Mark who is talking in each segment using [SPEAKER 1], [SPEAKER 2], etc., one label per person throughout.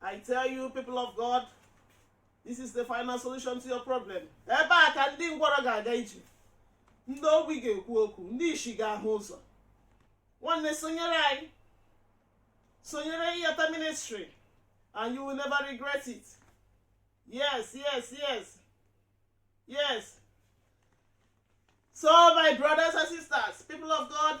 [SPEAKER 1] I tell you people of God this is the final solution to your problem ebe a ka ndị ngwọrọ ga-aga ije ndị ogbi ga-ekwu okwu ndị ishi ga-ahụ ụzọ nwanne sonyere anyị sonyere ịyata ministry and you will never regret it yes yes yes yes so my brothers and sisters people of god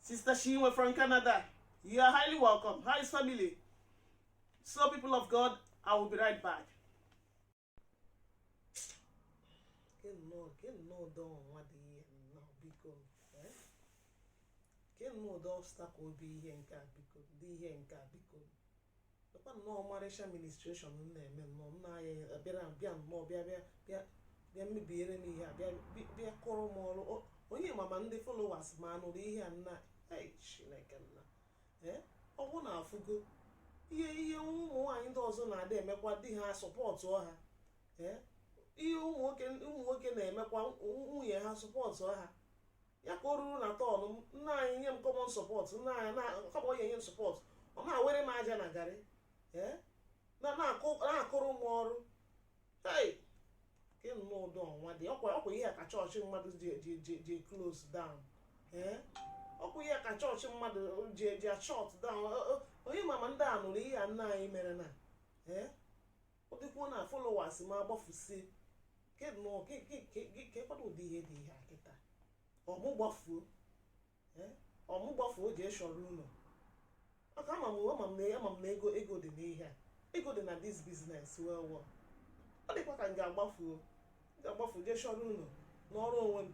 [SPEAKER 1] Sister Chinwe from Canada, you are highly welcome. How is family? So, people of God, I will be right back. Kedụ ụdị obstacle bụ ihe nke a biko, dị ihe nke a biko. lekwa nnọọ ọmarịcha ministration m na-eme nnọọ nna anyị abịara bịa nnọọ bịa bịa bịa bịa mebiere m ihe a bịa bịa- bịa kụrụ m ọrụ O- onye ma ma ndị followers m anụrụ ihe a nna ei chineke nna ee ọ bụ na afụgo ihe ihe ụmụ nwaanyị ndị ọzọ na-adị emekwa di ha support ha ee ihe ụmụ nwoke ụmụ nwoke na-emekwa nwunye ha support ha ya ka o ruru na turn m nna anyị nye m common support nna anyị kama ọ ya-enye m support ọ na-awere m aja na garị eh? na-akụrụ m ọrụ ịnụ n'ụdị ọnwa dị ọkwa ọkwa ihe ka chọọchị mmadụ ji ji ji ji close down ee ọkwa ihe ka chọọchị mmadụ ji ji shut down onye ma ma ndị a nụrụ ihe a nna anyị mere na ee ọ dịkwuo na followers m agbafusie keekwanụ ụdị ihe dị ihe a kịta ọ mụ gbafuo eh, ọ mụ gbafuo jee shọrọ ụlọ maka ama m ama m na ama m na ego ego dị n'ihe a ego dị na this business well well ọ dịkwa ka m ga-agbafuo m ga-agbafu jee shọrọ ụlọ nọrọ onwe m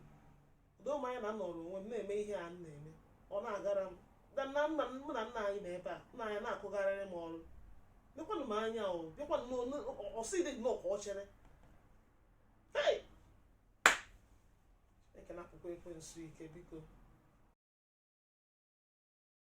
[SPEAKER 1] doo m anya na m nọrọ onwe m na-eme ihe a m na-eme ọ na-agara m da na nna mụ na nna anyị nọ ebe a nna anyị na-akụgharịrị m ọrụ mekwanụ m anya o bịakwanụ n'onu ọsị dị nnọọ ka ọ chineke napụkwa ekwensu ike biko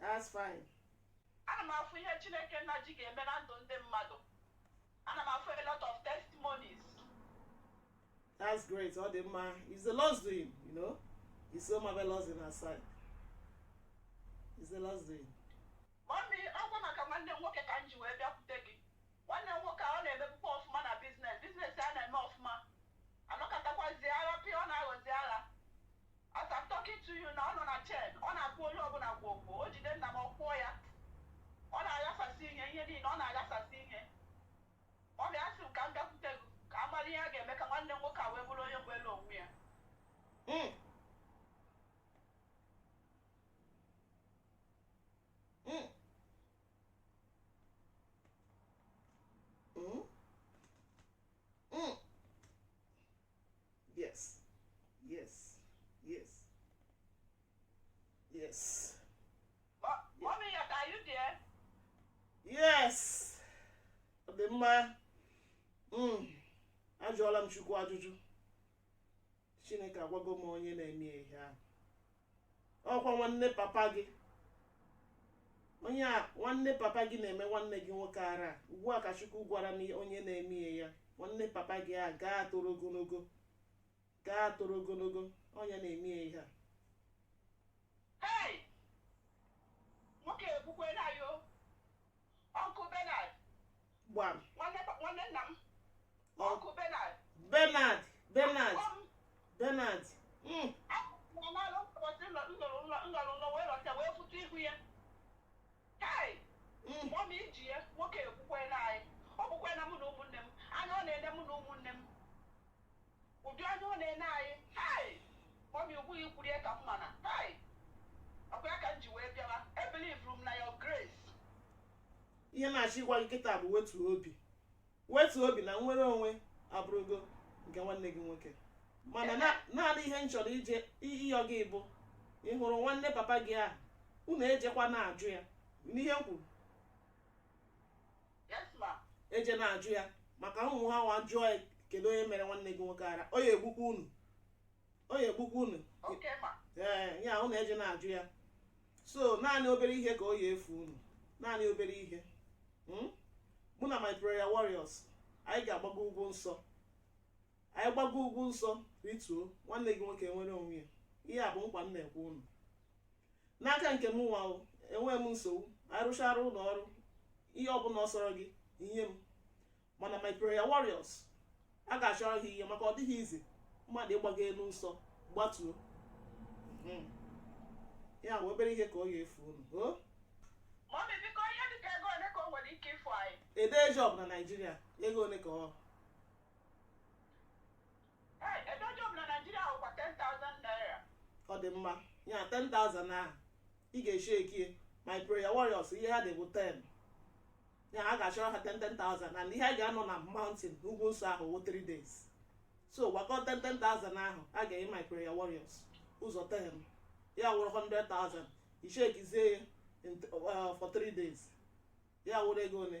[SPEAKER 1] That's fine. ana m
[SPEAKER 2] afụ ihe chineke nna ji gị eme na ndụ ndị mmadụ ana m afụ a lot of
[SPEAKER 1] testimonies That's great. All the man it's the Lord's doing, you know. It's so marvelous in our sight. It's the Lord's doing.
[SPEAKER 2] mami ọkwa maka nwanne m nwoke ka m ji wee bịakwute gị nwanne m nwoke a ọ na-emebukwa ọfụma na business business ya na-eme ọfụma anọkatakwazi agha pịa ọ na-aghọzi agha As I'm talking to you na ọ nọ na chain, ọ na-akụ onye ọbụla kwuo okwu, o jide nna m ọ kụọ ya. Ọ na-aghasasị ihe, ihe niile, ọ na-aghasasị ihe. Mommy, asị m ka m bịakwute gị, ka a mara ihe a ga-eme ka nwanne m nwoke a wee bụrụ onye nwere onwe ya.
[SPEAKER 1] Mm. Mm. Mm. Mm. Yes. Yes. Yes. Yes.
[SPEAKER 2] Mommy, are you there? Yes.
[SPEAKER 1] Ọ dị mma. Mm. Ajụọla m Chukwu ajụjụ. Chineke agwago m onye na-eme ihe ahụ. ọkwa nwanne papa gị onye a nwanne papa gị na-eme nwanne gị nwoke ara ugbu a ka chukwu gwara m onye na-eme ihe a nwanne papa gị a gaa toro ogologo gaa toro ogologo onye na-eme ihe a Hey!
[SPEAKER 2] nwoke egbukwena anyị o Uncle Bernard.
[SPEAKER 1] Gbam. Nwanne
[SPEAKER 2] nna m. Uncle Bernard. Bernard.
[SPEAKER 1] Bernard. Bernard. Mm.
[SPEAKER 2] Mana ụbọchị m rọrọ nrọ wee rọta wee fụta ihu ya. Hey. Mm. Mommy i ji ya nwoke egbukwena anyị. Ọ bụkwa na mụ na ụmụnne m. Anya ọ na-ene mụ na ụmụnne m. ụdị anya ọ na-ene anyị hai mommy ugbu a i kwuru ya ka m mana hai ọkwa ya ka m ji wee bịawa ebelievuru m na your grace
[SPEAKER 1] ihe m na-achọ ịgwa gị kịta bụ wetu obi wetu obi na nnwere onwe abụrụgo nke nwanne gị nwoke mana na- naanị ihe m chọrọ ije ịyọ gị bụ ị hụrụ nwanne papa gị ahụ unu ejekwa na-ajụ ya n'ihe m kwuru
[SPEAKER 2] eje na-ajụ
[SPEAKER 1] ya maka unu nwaa anwa jụọ ya kedu onye mere nwanne gị nwoke ara ọ ya-egbukwa unu ọ ya-egbukwa unu
[SPEAKER 2] ee ya unu
[SPEAKER 1] eje na-ajụ ya so naanị obere ihe ka ọ ya-efu unu naanị obere ihe mụ na my prayer warriors anyị ga-agbago ugwu nsọ anyị gbago ugwu nsọ rituo nwanne gị nwoke nwere onwe ya ihe a bụ nkwa m na-ekwe unu n'aka nke m nwa enweghị m nsogbu anyị rụchaara unu ọrụ ihe ọbụla ọ sọrọ gị i nye m mana my prayer warriors a ga-achọrọ ha ihe maka ọ dịghị easy mmadụ ịgbago elu nsọ gbatuo hmm. ya bụ obere ihe ka ọ ga-efu unu ego
[SPEAKER 2] ole ka o nwere ike ifu anyị adịghị job na
[SPEAKER 1] Nigeria ego ole ka ọ
[SPEAKER 2] ọ dị
[SPEAKER 1] mma ya 10,000 ahụ ị ga-eshekie my prayer warriors ihe ha dị wụ 10 ya a ga-achọrọ ha 10,000 and ihe a ga-anọ na mountain ugwu nsọ ahụ wụ 3 days so gbakọ 10,000 ahụ a ga-enye my prayer warriors ụzọ 10 ya wụrụ 100,000 i shekizie ya for 3 days ya wụrụ ego ole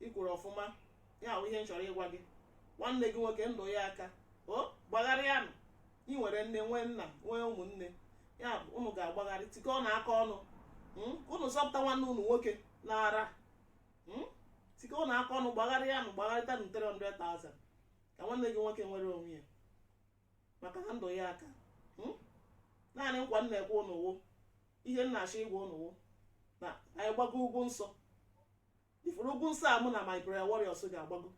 [SPEAKER 1] i kwuru ọfụma ya wụ ihe m chọrọ ịgwa gị nwanne gị nwoke ndụ ya aka o gbagharịanụ ị nwere nne nwee nna nwee ụmụnne ya bụ unu ga-agbagharị tikọọnụ aka ọnụ mm, ka unu zọpụta nwanne unu nwoke n'ara mm, tikọọnụ aka ọnụ gbagharịanụ gbagharịtanụ 300,000 ka nwanne gị nwoke nwere onwe ya maka na ndụ ya aka hmm? naanị nkwa m na-ekwe unu wụ ihe m na-achọ ịgwa unu wụ na anyị gbago ugwu nsọ ị fụrụ ugwu nsọ a mụ na my prayer warriors ga-agbago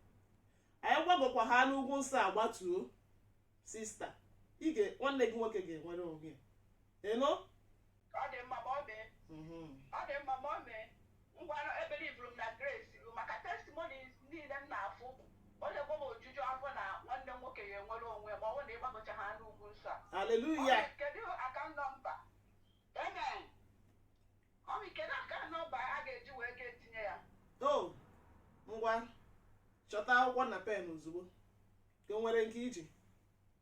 [SPEAKER 1] anyị gbagokwa ha n'ugwu nsọ a gbatuo sista ị ga nwanne gị nwoke ga-enwere onwe ya eno
[SPEAKER 2] ọ dị mma ma ọ mee ngwanụ ebelivuru m na grace a maka testimonies niile m na-afụ ọ na-egbo m ojuju afọ na nwanne m nwoke ya-enwere onwe ma ọ bụ na ị gbagochaa ha n'ugwu nsọ a haleluya
[SPEAKER 1] Ọmị, kedu
[SPEAKER 2] account number amen ọmị kedu account number a ga-eji wee gaa tinye ya o
[SPEAKER 1] ngwa chọta akwụkwọ na pen ozugbo ka o nwere nke i ji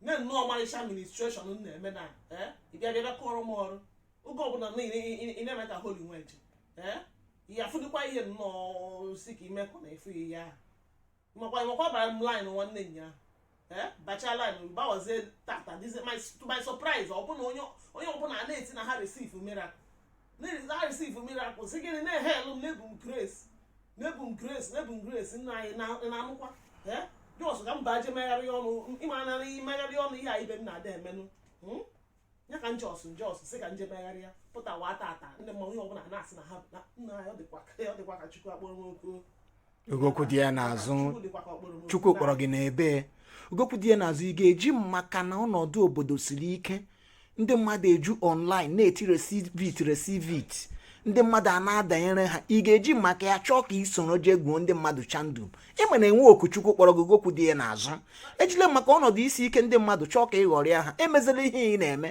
[SPEAKER 1] nye nnọọ ọmarịcha ministration m na-eme na ee ị bịa bịa bịa kụọrọ m ọrụ oge ọbụla na ị- ị- ị- ị na-eme ka holy nweje ee ya afụdịkwa ihe nnọọ si ka imekọ na efu ihe ahụ makwa makwa bara m line nwanne nya ee bacha line bawazie tata dizi my to my surprise ọ bụ na onye onye ọbụla na-eti na ha receive miracle na-arisivu mirakụl sị gịnị na-ehelu m na-ebu m grace na-ebu m grace na-ebu m grace nna anyị na-anụkwa just ka m baje megharị ọnụ ị ma na imegharị ọnụ ihe a ibe m na-ada emenụ hmm? ya ka m just just sị ka m je megharịa pụtawa tata ndị mmadụ onye ọbụla na-asị na ha nna ya ọ dịkwa ka Chukwu a kpọrọ m oku gị okwu dị
[SPEAKER 3] ya n'azụ Chukwu kpọrọ gị n'ebe gị okwu dị ya n'azụ ị ga-eji maka na ọnọdụ obodo siri ike ndị mmadụ eju online na-eti receive it receive it ndị mmadụ a na-adanyere ha ị ga-eji maka ya chọọ ka i soro jee gwuo ndị mmadụ chandụ ị ma na e nwe oku Chukwu kpọrọ gị okwu dị ya n'azụ ejile maka ọnọdụ isi ike ndị mmadụ chọọ ka ị ghọrịa ha emezile ihe ị na-eme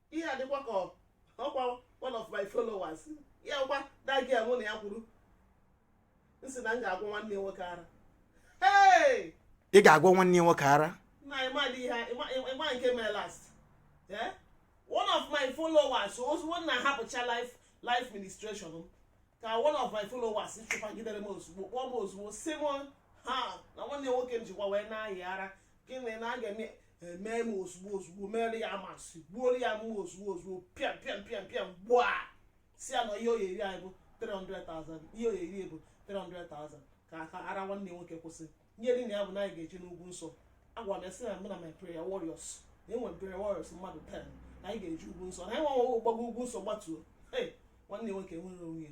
[SPEAKER 1] ihe a dịkwa ka ọkwa one of my followers ya gwa dagi mụ na ya kwuru m sị na m ga-agwọ nwanne nwoke ara
[SPEAKER 3] ị ga-agwọ nwanne nwoke ara na ị ma ihe
[SPEAKER 1] ị ma nke mere last eh? one of my followers ozugbo na ahapụcha live live ministration ka one of my followers chụpagidere m ozugbo kpọọ m ozugbo sị m ha na nwanne nwoke m jikwa wee na-ayi ara gịnị na a ga-eme emee m ozugbo ozugbo mere ya maths gbuoro ya mma ozugbo ozugbo pịam pịam pịam pịam gbuo a sị ya na ihe ọ ya-eri anyị bụ 300,000 ihe ọ ya-eri bụ 300,000 ka aka ara nwanne nwoke kwụsị ihe dị na ya bụ na anyị ga-eje n'ugwu nsọ agwa m ya sị na mụ na my prayer warriors na e nwere prayer warriors mmadụ 10 na anyị ga-eje ugwu nsọ na anyị nwanwe gbago ugwu nsọ gbatuo hey nwanne nwoke nwere onwe ya